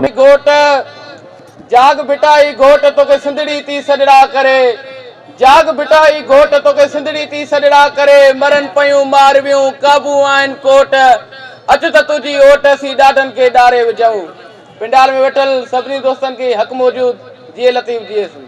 اي گهوٽ جاڳ ڀٽا اي گهوٽ توکي سنڌڙي تي سڏڙا ڪري جاڳ ڀٽا اي گهوٽ توکي سنڌڙي تي سڏڙا ڪري مرن پيون مارويون قابو آهن ڪوٽ اچ ته تنهنجي اوٽ اسين ڏاڍن کي ڏاري وجهون پنڊال ۾ ويٺل سڀني دوستن کي حق موجود جيئي لطيف جيئي سنڌ.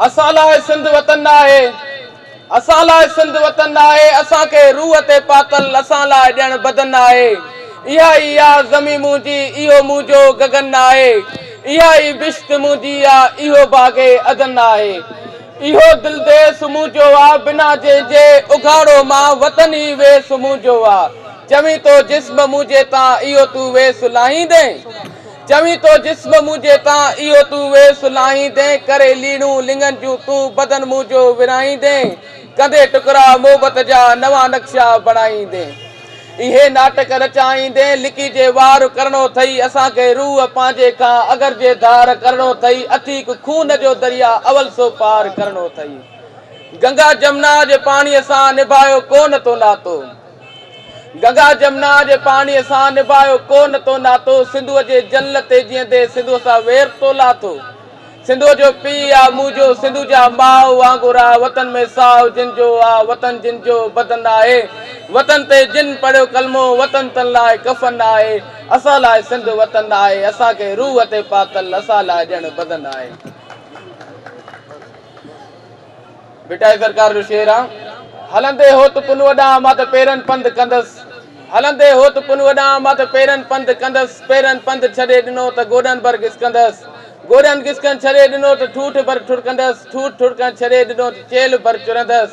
اسان لاء سنڌ وطن ناهي اسان لاء سنڌ وطن ناهي اسان کي روح تي پاتل اسان لاء ڄڻ بدن ناهي اها ئي آ زمين منهنجي اهو منهنجو گگن ناهي اها ئي بشت منهنجي آ اهو باغ عدن ناهي اهو دل ديس منهنجو آ بنا جنهن جي اگهاڙو مان وطن ئي ويس منهنجو آ چوين ٿو جسم منهنجي تان اهو تون ويس لاهيندين چوين ٿو جسم منهنجي تان اهو تون وير سلهائيندين ڪري ليڙون لڱن جون تون بدن منهنجو ورهائيندين ڪندي ٽڪرا محبت جا نوان نقشا بڻائيندين اهي ناٽڪ رچائيندين لڪي جي وار ڪرڻو ٿئي اسان کي روح پنهنجي کان اگر جي ڌار ڪرڻو ٿئي اٿيڪ خون جو دريا اول سو پار ڪرڻو ٿئي گنگا جمنا جي پاڻي سان نڀايو ڪو نه تو ناتو. گنگا جمنا جي پاڻيء سان نڀايو ڪو نه تو ناتو سنڌوء جي جل تي جيئندي سنڌوء سان وير تو لاٿو سنڌوء جو پيء آ مون جو سنڌو جا ماء وانگر آ وطن ۾ ساهه جن جو آ وطن جن جو بدن آهي وطن تي جن پڙهيو ڪلمو وطن تن لاء ڪفن آهي اسان لاء سنڌ وطن آهي اسان کي روح تي پاتل اسان لاء ڄڻ بدن آهي. ڀٽائي سرڪار جو شعر آ. هلندي هوت پنهونء ڏانهن مان ته پيرن پنڌ ڪندس هلندي هوت پنهونء ڏانهن مان ته پيرن پنڌ ڪندس پيرن پنڌ ڇڏي ڏنو ته گوڏن ڀر گسڪندس گوڏن گسڪڻ ڇڏي ڏنو ته ٺوٺ ڀر ٺڙڪندس ٺوٺ ٺڙڪڻ ڇڏي ڏنو ته چيلهه ڀر چرندس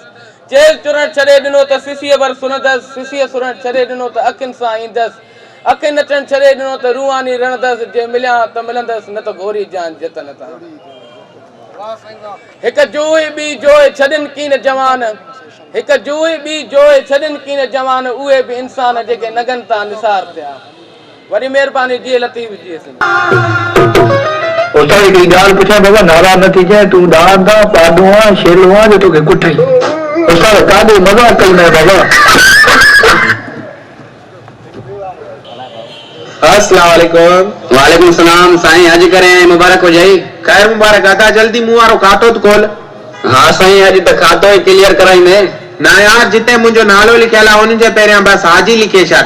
چيلهه چرڻ ڇڏي ڏنو ته سسيء ڀر سرندس سسيء سرڻ ڇڏي ڏنو ته اکين سان ايندس اکين نچڻ ڇڏي ڏنو ته روحاني رڙندس جي مليان ته ملندس نه ته گهوري جان جتن تان. هڪ جوئي ٻي جوئي ڇڏين ڪين جوان هڪ جوئي ٻي جوئي ڇڏين ڪين جوان اهي به انسان جيڪي نگن تان نثار ٿيا وڏي مهرباني جيئي لطيف جيئي سنڌ. استاد هڪڙي ڳالهه پڇان بابا ناراض نه ٿيجانء تون ڏاند آن پاڏو آن شيلو آن جو توکي ڪٺئي استاد ڪاڏي مذاق ڪيو مئين بابا. السلام عليڪم. وعليڪم السلام سائين اڄ ڪرين ۽ مبارڪ هجئي. خير مبارڪ ادا جلدي مون وارو کاتو ته کول. ها سائين اڄ ته کاتو ئي ڪليئر ڪرائيندين. نه يار جتي منهنجو نالو لکيل آ ان جي پهريان بس حاجي لکي ڇڏ.